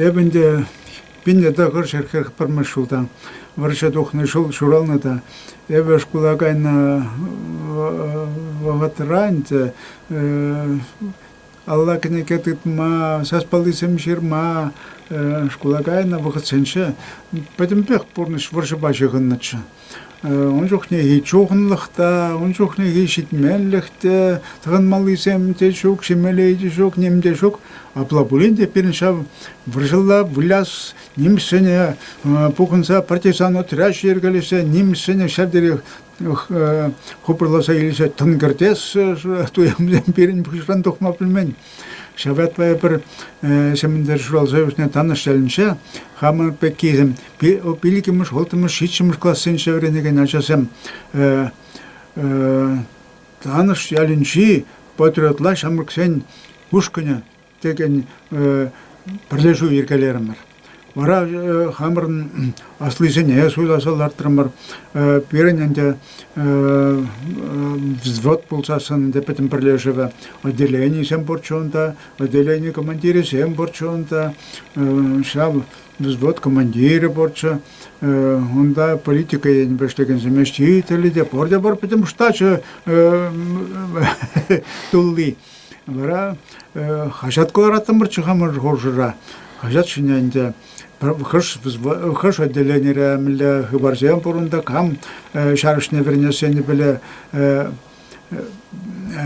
Эпӗ ӗнтӗ пинлӗ тӑхӑр ҫӗрхӗр пӗрмӗш ҫулта вӑрҫӑ тухнӑ ҫул ҫуралнӑ та эпӗ шкула кайнӑ вӑхӑтра ӗнтӗ алла кӗнеке тытма, сас паллисем ҫырма шкула кайнӑ вӑхӑтсенче пӗтӗмпех пурнӑҫ вӑрҫӑпа ҫыхӑннӑччӗ. Ун чухнехи чухӑнлӑх та, ун чухнехи ҫитменлӗх те, тӑхӑнмаллисем те ҫук, ҫимелли те ҫук, ним те ҫук. Апла пулин те пирӗн ҫав вӑрҫӑлла выляс нимӗҫсене пухӑнса партизан отряч йӗркелесе нимӗҫсене ҫав териех хупӑрласа илсе тӑн кӗртес туйӑмсем пирӗн пуҫран тухма пӗлмен. Ҫав ятпа эпир ҫемӗнтер ҫуралса ӳснӗ Танӑш ялӗнче хамӑр пеккисем иккӗмӗш, улттӑмӗш, ҫиччӗмӗш классенче вӗренекен ачасем Танӑш ялӗнчи патриотла ҫамрӑксен ушкӑнӗ текен пӗрлешӳ йӗркелерӗмӗр. Вара хамӑрӑн аслисене суйласа лартрӑмӑр. Пирӗн ӗнтӗ взвод пулсассӑн ӗнтӗ пӗтӗм пӗрлешӗве отделенисем пурччӗ унта, отделени командирӗсем пурччӗ унта, ҫав взвод командирӗ пурччӗ. Унта политика енӗпе ӗҫлекенсем, ӗҫчен те пурте пӗтӗм штачӗ тулли. Вара хаҫат кӑлараттӑмӑрччӗ хамӑр хушӑра. Хаҫат ҫине ӗнтӗ хӑш хӑш отделенире мӗнле хыпарсем пур унта, кам ҫарӑҫне вӗренес енӗпеле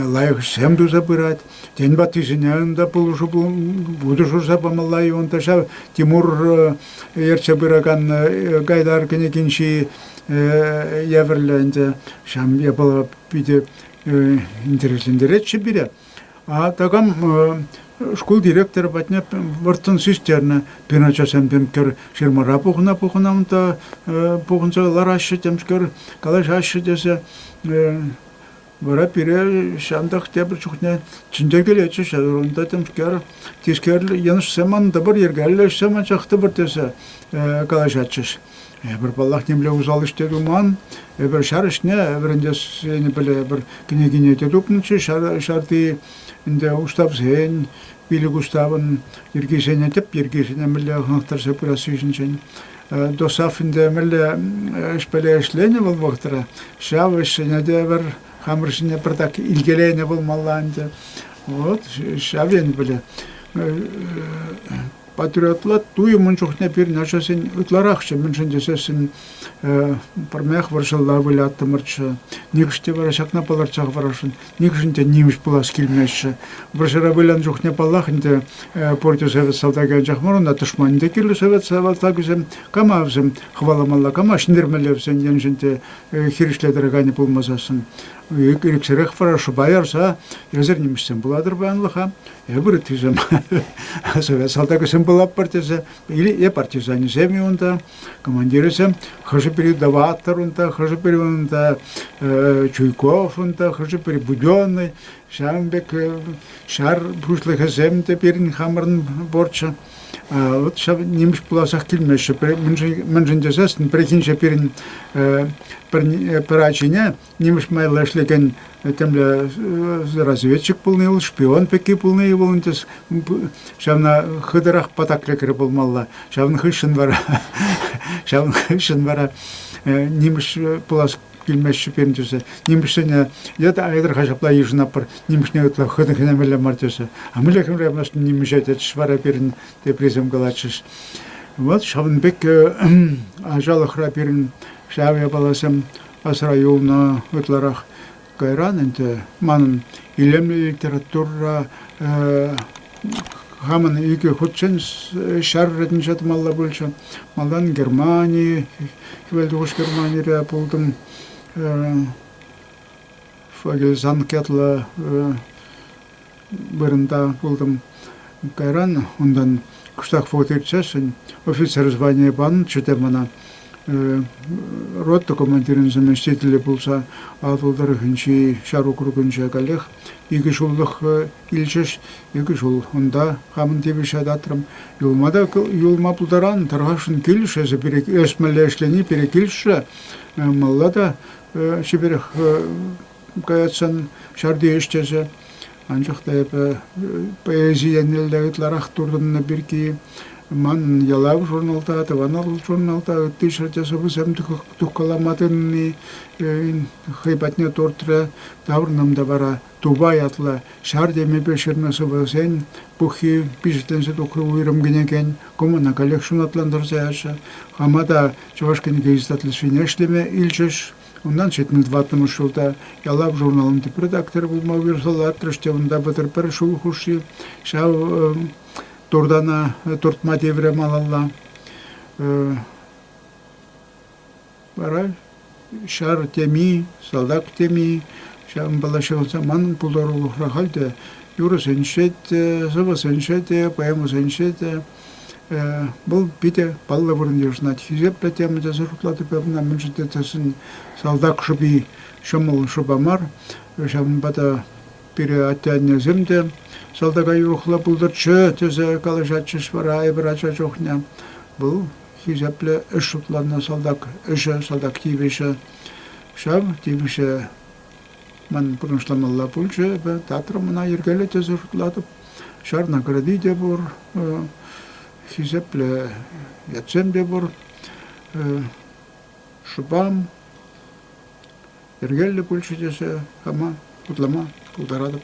лайӑхсем туса пырать. Тен, ваттисене унта пулӑшу вутӑ шурса памалла-и унта ҫав Тимур ертсе пыракан Гайдар кӗнекинчи евӗрлӗ ӗнтӗ. Ҫам япала питӗ интереслентеретчӗ пире. А такам шкул директорӗ патне вӑрттӑн систернӗ. Пирӗн ачасем темкер фирмӑра пухӑна-пухӑна унта пухӑнса лараҫҫӗ темскер, калаҫаҫҫӗ тесе. Вара пире ҫантах тепӗр чухне чӗнтеркелетчӗ унта темскер. Тискер йӑнӑшсем ман тӑпӑр йӗркеллӗ ӗҫсем анчах тӑпӑр тесе калаҫатчӗҫ. Эпир, паллах, нимле усал ӗҫ те туман. Эпир ҫар ӗҫне вӗрентессине пӗле, эпир кӗнекине те тупнӑччӗ ҫар, ҫарти ӗнтӗ уставсен, пилӗк уставӑн йӗркисене, тӗп йӗркисене мӗнле хӑнӑхтарса пырасси ҫинчен. ДОСААФ ӗнтӗ мӗнле ӗҫпеле ӗҫленӗ вӑл вӑхӑтра, ҫав ӗҫсене те пӗр хамӑр ҫине пӗртак илкеленӗ пулмалла ӗнтӗ. Вот ҫав енӗпеле Патриотла туйӑм ун чухне пирӗн ачасен ытларахчӗ, мӗншӗн тесессӗн пӗрмех вӑрҫӑлла выляттӑмӑрччӗ. Нихӑш те вара ҫакна палӑртса хӑварасшӑн, нихӑшӗн те нимӗҫ пулас килмеҫҫӗ. Вӑрҫӑра вылянӑ чухне, паллах, ӗнтӗ пурте совет салтакӗ анчах мар, унта тӑшманӗ те кирлӗ совет салтакӗсем, камавсем хӑваламалла, кама ҫӗнтермеллевсен еншӗн те хирӗҫле тӑраканӗ пулмасассӑн. Ирӗксӗрех вара шӑпа ярса эсир нимӗҫсем пулатӑр паянлӑха. Эпир тесе салтаксем пулатпӑр тесе, или партизанӗсем унта, командирӗсем, хӑшӗ-пӗри Даватор унта, хӑшӗ-пӗри унта Чуйков унта, хӑшӗ-пӗри Буденный, ҫавӑн пек ҫар пуҫлӑхӗсем те пирӗн хамӑрӑн борччу. Вот ҫав нимӗҫ пуласах килмеҫҫӗ. Мӗншӗн тесен пӗррехинче пирӗн пӗр ачине нимӗҫ майлӑ ӗҫлекен темле разведчик пулни вӑл, шпион пекки пулни вӑл ӗнтӗ. Ҫавна хытӑрах патак лекрӗ пулмалла. Ҫавӑн хыҫҫӑн вара ҫавӑн хыҫҫӑн вара нимӗҫ пулас килмеҫҫӗ пирӗн тесе. Нимӗҫсене йытӑ айтӑр-ха ҫапла йышӑнатпӑр, нимӗҫне ытла хытӑххине мелле мар тесе. А мӗнле хӗмремес нимӗҫе тетӗҫ вара пирӗн теприсем калатчӗҫ. Вот ҫавӑн пек ачалӑхра пирӗн ҫав япаласем асра юлнӑ. Ытларах кайран ӗнтӗ манӑн илемлӗ литература хамӑн икӗ хутчен ҫар ретӗнче тӑмалла пулчӗ. Малтан Германи, хӗвел тухӑҫ Германире пултӑм. Фогельзанг ятлӑ вырӑнта пултӑм. Кайран унтан кӑштах вӑхӑт иртсессӗн офицер званийӗ панӑ сӗте мана рота командирӗн заместителӗ пулса Атӑл тӑрӑхӗнчи ҫар округӗнче каллех икӗ ҫуллӑх илчӗҫ. Икӗ ҫул унта хамӑн тивӗҫе татрӑм. Юлма та юлма пултаран, тӑрхашшӑн килӗшрӗ эсӗ пире эс мӗнле ӗҫлени пире килӗшрӗ. Малла та чиперех Каятсан ҫарти ӗҫтесе, анчах та эпӗ поэзи еннелле ытларах туртӑннӑ пирки ман ялав журналта, тӑван журналта ытти ҫӗрте сӑвӑсем тухкалама тытӑнни хӑй патне туртрӗ. Таврӑнам та вара Тупа ятлӑ ҫар темипе ҫырнӑ сӑвӑсен пуххи пичетленсе тухрӗ уйрӑм кӗнекен. Кӑмӑна каллех ҫунатлантарса яҫҫӗ. Хама та чӑваш кӗнеке издательствине ӗҫлеме илчӗҫ. Унтан ҫитмӗл тӑваттӑмӗш ҫулта Ялав журналӑн тӗп редакторӗ пулма уйӑрсӑллатрӑш те унта пӗтӗр пӗр ҫул хушши ҫав туртана туртма тиврӗ малалла. Вара ҫар теми, салтак теми, ҫавӑнпала ҫыхӑнса манӑн пултарулӑхра халь те юрӑсенче те, сӑвӑсенче те, поэмӑсенче те Вӑл питӗ паллӑ вырӑн йышӑнать. Хисеплӗ тема тесе шутлатӑп ӑна, мӗншӗн тесен салтак шӑпи ҫӑмӑл шӑпа мар. Ҫавӑнпа та пире атте-аннесем те салтака юрӑхлӑ пултӑрччӗ тесе калаҫатчӗҫ вара эпир ача чухне. Вӑл хисеплӗ ӗҫ шутланнӑ салтак ӗҫӗ, салтак тивӗҫӗ. Ҫав тивӗҫе Ман пурнӑҫламалла пулчӗ эпӗ, театрӑм ӑна йӗркеллӗ тесе шутлатӑп. Ҫарна кӗрти те пур, хисеплӗ ятсем те пур. Шӑпам йӗркеллӗ пулчӗ тесе хама шутлама пултаратӑп.